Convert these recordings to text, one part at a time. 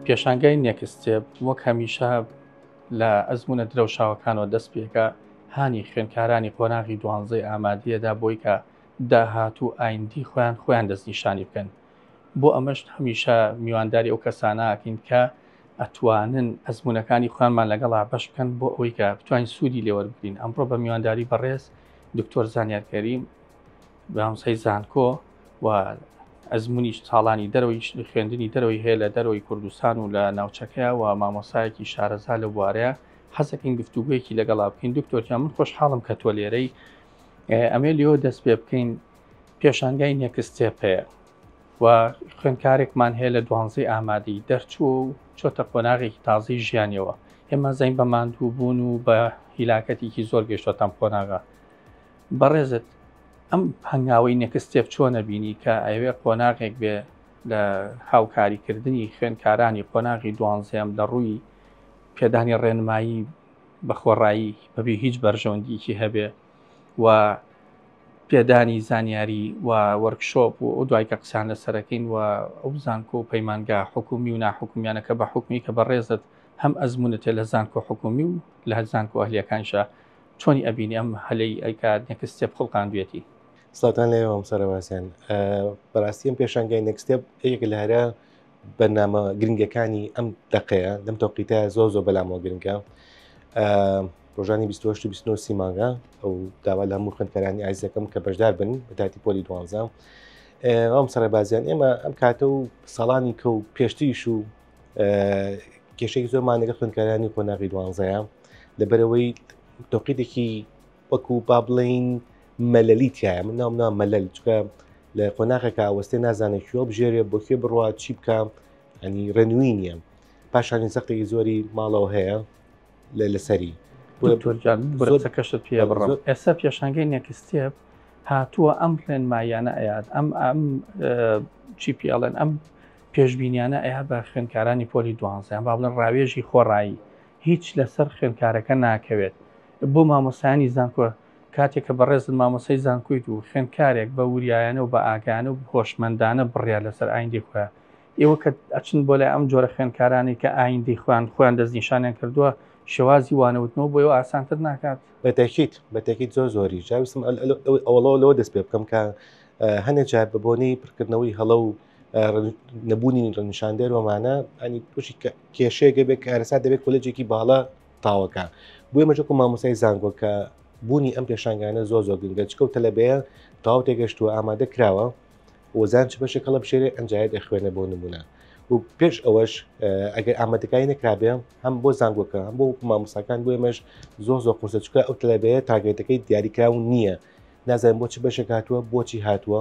پێشانگای نێکستێب وەک هەمیشە لە ئەزمونە درەوشاوەکانەوە دەست پێکە هانی خوێنکارانی قۆناغی دوانزەی ئامادەیەدا بۆی کە داهات و ئایندی خۆیان خۆیان دەستنیشانی بکەن بۆ ئەمەش هەمیشە میوانداری ئەو کەسانەکەین کە ئەتوانن ئەزمونونەکانی خوانمان لەگەڵا بەش بکەن بۆ ئەوەی کە بتوانین سوودی لێوەربگرین ئەمڕۆ بە میوانداری بەڕێز دکتۆر زانیارکەریم بەناوسەی زانکۆ و ئەزمونیش ساڵانی دەرەوەی خوێندنی دەرەوەی هەیە لە دەرەوەی کوردستان و لە ناوچەکەیە و مامۆسایەکی شارەزا لە بوارەیە حەزەکەین گفتوگویەکی لەگەڵا بکەین دکتۆرکە من خۆشحاڵم کە تۆ لێرەی ئەمێ لێۆ دەست پێ بکەین پێشانگای نێکستێپ هەیە و خوێندکارێکمان هەیە لە دوانزەی ئامادەی دەرچوو و چۆتە قۆناغێکی تازەی ژیانەوە ئێمە زەین بە ماندوو بوون و بە هیلاکەتێکی زۆر گەشتۆتەم قۆناغا بەڕێزت ئەم هەنگاوەی نێکستێپ چۆنە بینی کە ئەوێ قۆناغێک بێ لە هاوکاریکردنی خوێنکارانی قۆناغی دوانزەم لە ڕووی پێدانی ڕێنمایی بە خۆڕایی بەبێ هیچ بەرژەوەندیکی هەبێ و پێدانی زانیاری و وەرکشۆپ و دوای کە قسان لە سەرەکەین و ئەو زانکۆ و پەیمانگا حکومی و ناحکومیانەکە بە حکومی کە بەڕێزت هەم ئەزمونە تێ لە زانکۆ حکومی و لە زانکۆ ئەهلیەکانشە چۆنی ئەبینی ئەم هەلەی ئەیکات نێکس ستێپ خوڵقاندوێتی؟ سڵاتان لێ ئەوم سەرە باسیان بەڕاستیم پێشانگای نەکسستێپ یەک لە هەرە بەنامە گرنگەکانی ئەم دقەیە لەم تۆقیتە زۆر زۆر بەلامەوە گرنگە ڕۆژانی 1920 سیمانگە ئەو داوا لە هەموو خوێندکەرانی ئایزەکەم کە بەشدار بن بە تاتی پۆلی دوانزە ئەم سەرە بازیان ئێمە ئەم کاتە و ساڵانی کە و پێشتریش و کێشێک زۆرمان لەگە خوێندکارانی قۆناغی دوانزەیە لەبەرەوەی تۆقیدێکی وەکو با بڵین مەلەلی تایە من ناوم نا مەلەل چکە لە قۆناغەکە ئاوەستێ نازانێت کوێ بژێرێ بۆ کوێ بڕوا چی بکەم ئەنی ڕێنووی نییە پاشانی سەختێکی زۆری ماڵەوە هەیە لەسەری کەشت پێ بڕم ئێستا پێشانگەی نێکستێپ هاتووە ئەم ڕێنمایانە ئەیات ئەم ئەم چی پێڵێن ئەم پێشبینیانە ئەیا بە خوێندکارانی پۆلی دوانزە یان با بڵێن ڕاوێژی خۆڕایی هیچ لەسەر خوێندکارەکە ناکەوێت بۆ مامۆستایانی زانکۆ کاتێک کە بەڕێزت مامۆستای زانکۆیت و خوێندکارێک بە وریایانە و بە ئاگایانە و هۆشمەندانە بڕیار لەسەر ئایندەی خۆیان ئێوە کە ئەچن بۆ لای ئەم جۆرە خوێندکارانەی کە ئایندەی خۆیان خۆیان دەستنیشانیان کردووە شێوازی وانەوتنەوە بۆ ئێوە ئاسانتر ناکات؟ بەتەکیت بەتەکیت زۆر زۆری جاویستم ئەوەڵەوە لەوە دەست پێ بکەم کە هەنێ جار بە بۆنەی پڕکردنەوەی هەڵە و نەبوونی ڕنیشاندەر ومانە ئەنی پشی کێشەیەگە بێت کارەسا دەبێت کۆلێجێکی باڵە تاوەکە بۆی مەجەکو مامۆسای زانگۆ کە بوونی ئەم پێشانگانە زۆ زۆر گرنگە چکە و تەلەبەیە تاو تێگەشتووە ئامادە کراوە وەزان چ بەشێک هەڵە بشێرێ ئەنجایە دەخوێنە بۆ نمونە و پێش ئەوەش ئەگەر ئامادەکاری نەکرابێ هەم بۆ زانگۆکە هەم بۆ مامۆساکان بۆ ئێمەش زۆ زۆ قورسە چکە ئەو تەلەبەیە تاگەێتەکەی دیاریکراون نییە نازانم بۆ چ بەشێک هاتووە بۆچی هاتووە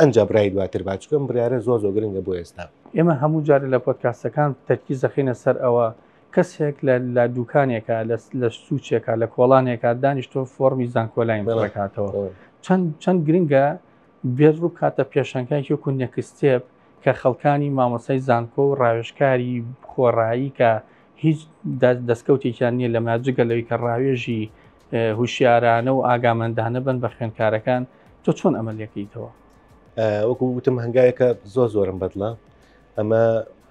ئەنجا برای دواتر با چکم بریارە زۆر زۆر گرنگە بۆ ئێستا. ئێمە هەموو جارە لە پۆدکاستەکان تەرکیز دەخینە سەر ئەوە کەسێک لە لە دوکانێکە لە سوچێکە لە کۆڵانێکە دانیشتۆ فۆڕمی زانکۆلاین بڵکاتەوە چەند چەند گرنگە بێت ڕوو کاتە پێشەنگای یۆک و نەکستێب کە خەڵکانی مامۆسای زانکۆ و ڕاوێشکاری خۆڕایی کە هیچ دەستکەوتێکیان نییە لە ماجگە لەوی کە ڕاوێژی هوشیارانە و ئاگامەندانە بن بە خوێنکارەکان تۆ چۆن ئەمە لەکەیتەوە وەکو وتم هەنگاوێکە زۆر زۆرم بەدڵە ئەمە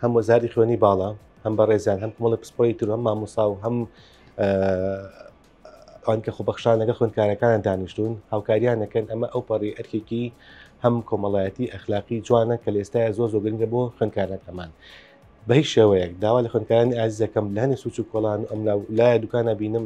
هەم وەزاری خوێنی باڵا هەم بە ڕێزیان هەم کومەڵی پسپۆی تر هەم مامۆسا و هەم ئەوان کە خۆبەخشان لەگە خوێندکارەکان دانیشتون هاوکاریان نەکەن ئەمە ئەو پەڕی ئەرکێکی هەم کۆمەڵایەتی ئەخلاقی جوانە کە لێستایە زۆر زۆگرنگە بۆ خوێندکارەکەمان بە هیچ شێوەیەک داوا لە خوێندکارانی ئازیزەکەم لەنی سوچ و کۆڵان ئەم لای دوکانە بینم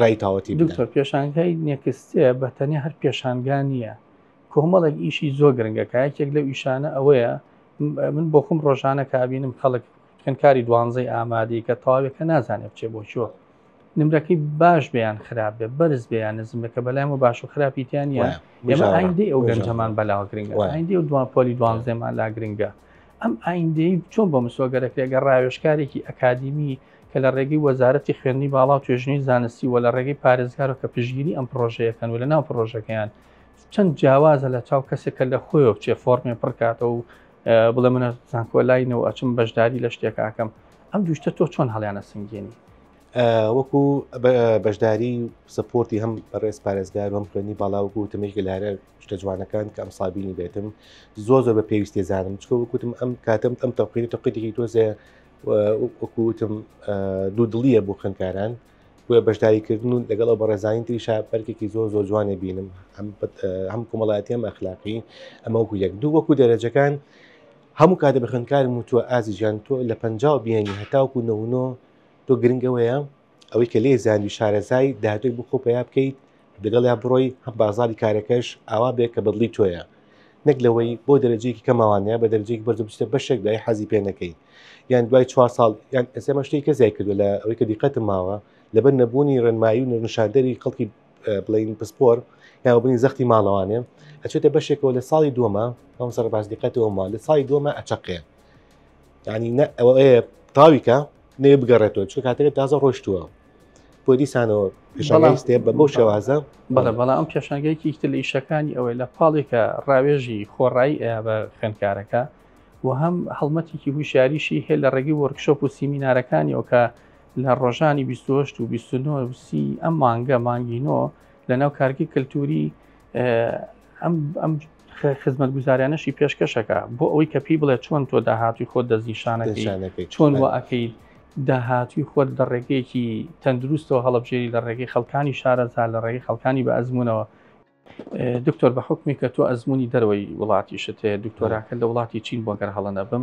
ڕای تاوەتی بدەن. دکتۆر پێشانگای نێکستێ بە تەنیا هەر پێشانگا نییە، کۆمەڵێک ئیشی زۆر گرنگە کە یەکێک لەو ئیشانە ئەوەیە من بۆ خۆم ڕۆژانە کە ئابینم خەڵک خوێندکاری دوانزەی ئامادەی کە تەواوێکە نازانێ بچێ بۆ چۆ نمرەکەی باش بێ یان خراپ بێ بەرز بێ یان نزم بێ کە بەلایەن و باش و خراپی تیان نیە وایە. ئێمە بژاڕە. ئایندەی ئەو بژاڕە. گەنجەمان بەلاوە گرنگە وایە. ئایندەی و دوان پۆلی دوانزەمان لا گرنگە ئەم ئایندەی چۆن بۆ مسۆگەرەکرێ گە ڕاوێشکارێکی ئەکادیمی کە لە ڕێگەی وەزارەتی خوێندنی باڵا و توێژنی زانستی و لە ڕێگەی پارێزگارە کە پشگیری ئەم پرۆژەیەکەن و لە ناو پرۆژەکەیان چەند جیاوازە لە چاو کەسێک کە لە خۆی بچێ فۆرمێ پڕکاتەوە و بڵێ منە زانکۆلاینەوە ئەچم بەشداری لە شتێکاکەم ئەم دوشتە تۆ چۆن هەڵیانە سنگێنی وەکو بەشداری سپۆرتی هەم بەڕێز پارێزگار هەم خوێنی باڵاوەکو تەمێکی لارە شتە جوانەکان کە ئەمساڵ بینی بێتم زۆر زۆر بە پێویستی زانم چکە وکوتم ئەم کاتم ئەم تەقیری تەقیدێکی تۆزێ وەکوتم دوو دڵیە بۆ خوێنکاران بۆە بەشداریکردن و لەگەڵ ئەو بەڕێزانانی تری شاپەرکێکی زۆر زۆر جوانێ بینم هەم کۆمەڵاتی ئەم ئەخلاقی ئەمە وەکو یەک دوو وەکو دەرەجەکان هەموو کاتە بە خوێنکارم وتووە ئازی ژیان تۆ لە پ بیانی هەتاوکو نەونۆ تۆ گرنگەوەیە ئەوەی کە لێی زانی شارەزای دادوەر بۆ خۆ پەیا بکەیت دەگەڵیا بڕۆی هەم بازاری کارەکەش ئاوا بێ کە بەدڵی تۆیە نەک لەوەی بۆ دەرەجەیەکی کەماوانەیە بە دەرەجەیەکی بەرزە بچیتە بەشێک دای حەزی پێ نەکەی یان دوای چوار ساڵ یان ئەسێمە شتێک کە زیای کردو لە ئەوەی کە دیقەتم ماوە لەبەر نەبوونی ڕێنمایی و نەرنشاندەری خەڵکی بڵین پسپۆر یاوە بنی زەختی ماڵەوانێ ئەچێتە بەشێکەوە لە ساڵی دووەمە ئەم سەر باش دیقەتەوە ما لە ساڵی دووەمە ئەچەقێ ینی نە ئەوەیە تاویکە نێ بگەڕێتەوە چ کاتەکە تازە ڕۆشتووە بۆ دیسانەوە پیشڵاستێ بە بۆ شێوازە بەڵێ بەڵام ئەم پێشنگەیەکی تر لە ئیشەکانی ئەوەی لە پاڵێکە ڕاوێژی خۆڕایی ئە بە خوێندکارەکە و هەم هەڵمەتێکی هوشیاریشی هەیە لە ڕێگەی وەرکشۆپ و سیمینارەکانی ئەوکە لە ڕۆژانی 28 و 29 ئەم مانگە مانگینۆ لە ناو کارگی کللتوری ئەم خزمەتگوزاریانەشی پێشکەش ئەکا بۆ ئەوەی کە پێی بڵێ چۆن تۆ داهاتوی خۆت دەستنیشانەکەی چۆن وە ئەکەیت داهاتوی خۆت لە ڕێگەیەکی تەندروستەوە هەڵبژێری لە ڕێگەی خەڵکانی شارەزا لە ڕێگەی خەڵکانی بە ئەزمونەوە دکتۆر بە حکمی کە تۆ ئەزمموی دەرەوەی وڵاتیشت هەیە دکتۆراکە لە وڵاتی چین بۆ گەر هەڵە نەبم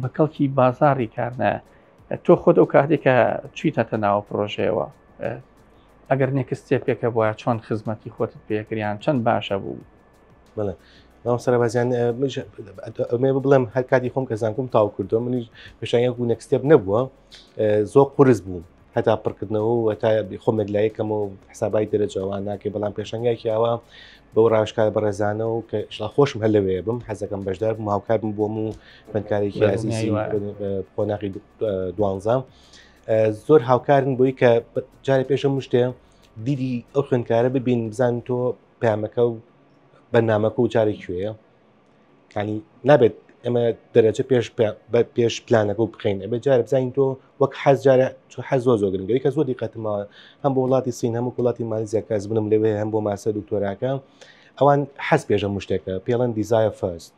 بە کەڵکی بازاڕی کار نایە. تۆ خۆت ئەو کاتێک کە چویتەتە ناوە پرۆژەیەوە ئەگەر نێکست ستێپێکە بووە چۆن خزمەتی خۆتت پێکریان چەند باشە بوو بڵێ مام سەربازیان ئەمێ بڵێم هەر کاتی خۆم کە زانکم تاو کردو منیش پێشانگە و نێکستێپ نەبووە زۆر قرس بوو هەتا پڕکردنەوە و هەتا خۆمێک لایەکەمەوە حسابای دەرەجەوان ناکەی بەڵام پێشنگایکی ئاوا بەو ڕاشکار بەڕێزانە و کە شڵا خۆشم هەر لەوێ بم حەزەکەم بەشدار بم هاوکارم بۆم و خوێندکارێکی عزیزی قۆناغی دوانزە زۆر هاوکارن بۆی کە جارێ پێشە مشتێ دیدی ئەو خوێندکارە ببین بزان تۆ پامەکە و بەنامەکە و جارێک کوێە کانی نابێت ئەمە دەرەجە پێش بە پێش پلانەکە و بخین ئەبێ جارە بزانین تۆ وەک حەز جارە چ حەز زۆ زۆگرن گەی کە زۆ دیقەتمە هەم بۆ وڵاتی سین هەموو وڵاتی مالیزیا کەس بنم لەوێ هەم بۆ ماسە دکتۆراکە ئەوان حەز پێشە مشتێکە پێڵەن دیزایە فەست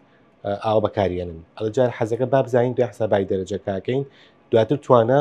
ئاوا بەکارێنن ئەڵجار حەزەکە بابزانین دوای حسابای دەرەجەکەکەین دواتر توانە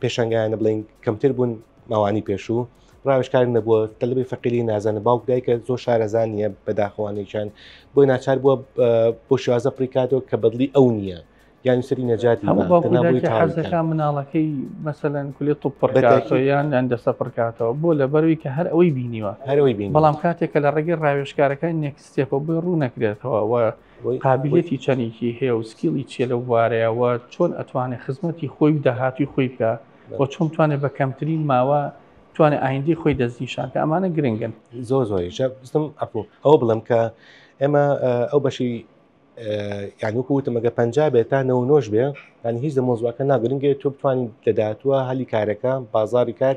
پێشنگایانە بڵین کەمتر بوون ماوانی پێشوو ڕاوشکار نەبووە تەلبی فەقیری نازانە باوک دایکە زۆر شارەزان نیە بەداخەوانێکیان بۆی ناچار بووە بۆ شێوازە پریکاتەوە کە بەدلی ئەو نییە یان سری نەجاتی حەزەکە مناڵەکەی مەسەەن کولی توپڕیان یان دەسە پڕکاتەوە بۆ لە بەروی کە هەر ئەوەی بینیوە هەرەوەی بین بەڵام کاتێکە لە ڕێگەی ڕاوێشکارەکان نێکستێپە بۆی ڕوو نەکرێتەوە قابیلیەتی چەنێکی هەیە و سکیڵی چیە لەو بوارەیا وە چۆن ئەتوانێ خزمەتی خۆی و داهاتووی خۆی بکا وە چۆن بتوانێ بە کەمترین ماوە بتوانێ ئایندەی خۆی دەستنیشان کە ئەمانە گرنگن زۆر زۆریشە بستم ئەپۆ ئەوە بڵم کە ئێمە ئەو بەشی یعنی وەکو وتمەگە پنج بێت تا نەوە نۆش بێ ینی هیچ لە مۆزوعەکە ناگرنگێت تۆ بتوانین لە داهاتوە هەلی کارەکە بازاری کار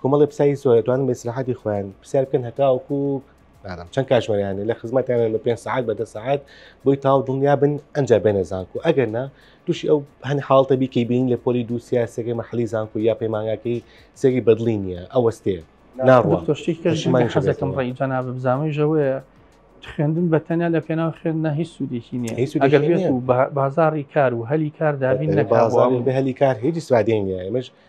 کۆمەڵێ پساوی سۆرە توانن بە ئیسراحەتی خۆیان پرسیار بکەن هەتاوەکو نادەم چەند کاژمەریانە لە خزمەتیانە لە پێنج سعات بە دە سعات بۆی تاو دڵنیا بن ئەنجا بێنە زانکو ئەگەر نا تووشی ئەو هەن حاڵتە بیکەی بین لە پۆلی دوو سیاسەکەی مەحلی زانکو یا پەیمانگاکەی سێری بەدڵی نییە ئەوەستێ ناڕوە تۆشتێکمان حەزەکەم ڕێی جەنا بزانەوەی ژەوەیە خوێندن بە تەنیا لە پێناو خوێن نە هیچ سوودێکی نیە ئەگەر بێت و بازاری کار و هەلی کار دابین لە بازاری بە هەلی کار هیچ سوادێن نیە ئەمەش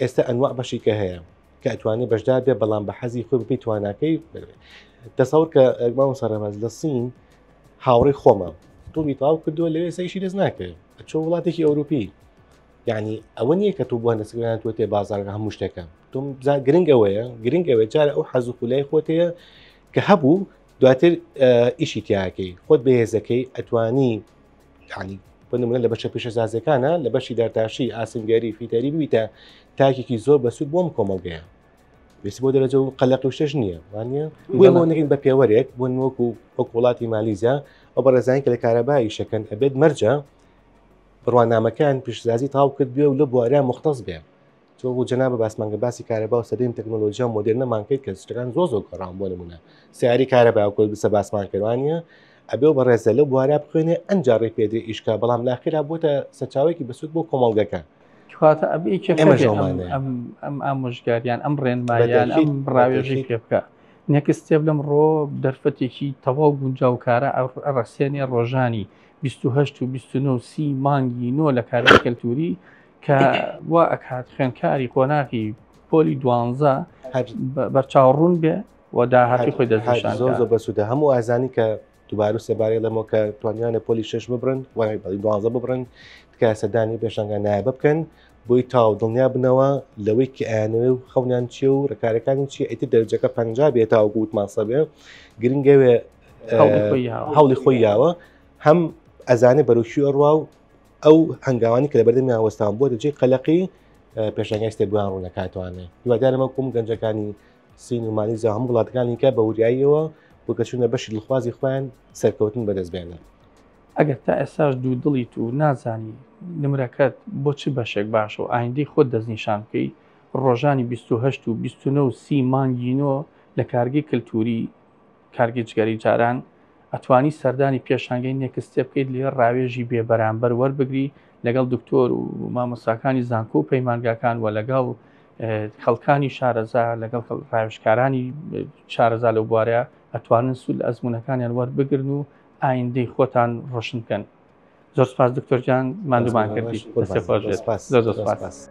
ئێستا ئەنواع بەشیکە هەیە کە ئەتوانێت بەشدار بێ بەڵام بە حەزی خۆی بپی تواناکەی دەسەور کە ئەگماوە سەرڕێباز لە سین هاوڕێ خۆمان توبی تاو کردووە لەوێ سەیشی دەست ناکرێت چۆ وڵاتێکی ئەوروپی یعنی ئەوە نییە کە تۆ بۆ نەسگران تۆ تێ بازارگە هەموو شتەکە تۆم بزا گرنگ ئەوەیە گرنگ ئەوێ جارە ئەو حەز و خولای خۆتەیە کە هەبوو دواتر ئیشی تیاکەی خۆت بەهێزەکەی ئەتوانی یعنی بۆ نمونە لە بەشە پیشەسازەکانە لە بەشی دارتاشی ئاسنگەری فیتەری بوویتە تاکێکی زۆر بەسوود بۆم کۆمەڵگەیە ویست بۆ دەرەجە و قەلق و شتش نییە وانە بۆ بۆ نگین بە پێوەرێک بۆ نوەک و وەک وڵاتی مالیزیا ئەو بەڕێزانانی کە لە کارەبایی شەکەن ئەبێت مەرجە بڕوانامەکان پیشزازی تاو کرد بێ و لە بوارە مختەز بێ تۆ بۆ جەنابە باسمان کە باسی کارەبا و سەدەی تەکنۆلۆژیا مۆدرنەمان کرد کە شتەکان زۆر زۆر گەڕان بۆ نمونە سیاری کارەبا کۆل بسە باسمان کردوانە ئەبێ و بەڕێزە لە بوارە بخوێنێ ئەنجا ڕێ پێدە ئیشکا بەڵام ناخرا بۆتە سەرچاوێکی بەسود بۆ کۆمەڵگەکە کاتە ئەبێ ئەم ئامۆژگاریان ئەم ڕێنمایان ئەم ڕاوێژی پێ بکە نەکستێب لەم ڕۆ دەرفەتێکی تەواو گونجاوکارە ئەڕەسێنێ ڕۆژانی 1970 مانگی نۆ لە کاری کەلتوری کە وا ئەکات خوێنکاری قۆناغی پۆلی دوانزە بەرچاوڕون بێ و داهاتی خۆی دەشان زۆر زۆر بەسوودە هەموو ئازانی کە دوبارو سێبارەی لەمەوە کە توانیانە پۆلی شش ببرن وای بەڵی دوازە ببرن تکا سەدانی پێشنگان نایبە بکەن بۆی تاو دڵنیا بنەوە لەوەی کە ئەیانەوە و خەونیان چی و ڕکارەکانی چی ئەیتر دەرجەکە پ بێت تاو گووت ماسە بێ گرنگەوێ هەوڵی خۆی یاوە هەم ئەزانێ بەرەوکی ئەڕوا و ئەو هەنگاوانی کە لە بەردەمیان وەستان بۆ دەجێ قەلەقی پێشنگای سێبووان ڕوونەکاتوانێ دووادارەمە کوم گەنجەکانی سین و مالیزا هەم وڵاتەکانی کە بە وریاییەوە وکەچونە بەشی دڵخوازی خۆیان سەرکەوتن بەدەستبێنن ئەگەر تا ئێستاش دوو دڵیت و نازانی نمرەکەت بۆ چ بەشێک باشە و ئایندەی خۆت دەستنیشان بکەی ڕۆژانی 28 و 29 و سی مانگینۆ لە کارگەی کللتوری کارگەی جگەرەی جاران ئەتوانی سەردانی پێشانگەی نێکستێ بکەیت لێ ڕاوێژی بێ بەرامبەر وەربگری لەگەڵ دکتۆر و مامۆساکانی زانکۆ و پەیمانگاکان و لەگەڵ خەڵکانی شارەزا لەگەڵ ڕاوشکارانی شارەزا لەو بوارە ئەتوانن سول ئەزمونونەکانیان وەربگرن و ئایندەی خۆتان ڕۆشن بکەن زۆر سپاس دکتۆرجان مادومان کردی سپاس.